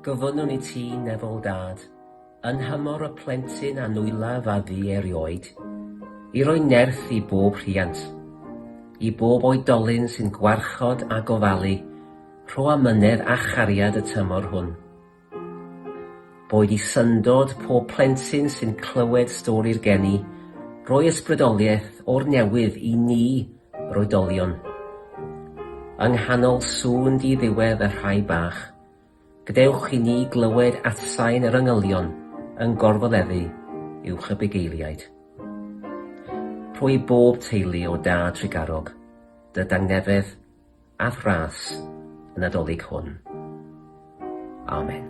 Gofynnwn i ti, Nefol Dad, yn nhymor y plentyn a nwyllaf a fu erioed, i roi nerth i bob rhiant, i bob oedolyn sy'n gwarchod a gofalu rho amynedd a chariad y tymor hwn. Boed i syndod pob plentyn sy'n clywed stori'r geni, roi ysbrydoliaeth o'r newydd i ni Yr oedolion. Yng nghanol sŵn di-ddiwedd y rhai bach, gadewch i ni glywed atsain yr angylion yn gorfoleddu uwch y bugeiliaid. Rho i bob teulu o da Tregarog dy dangnefedd a thras y Nadolig hwn. Amen.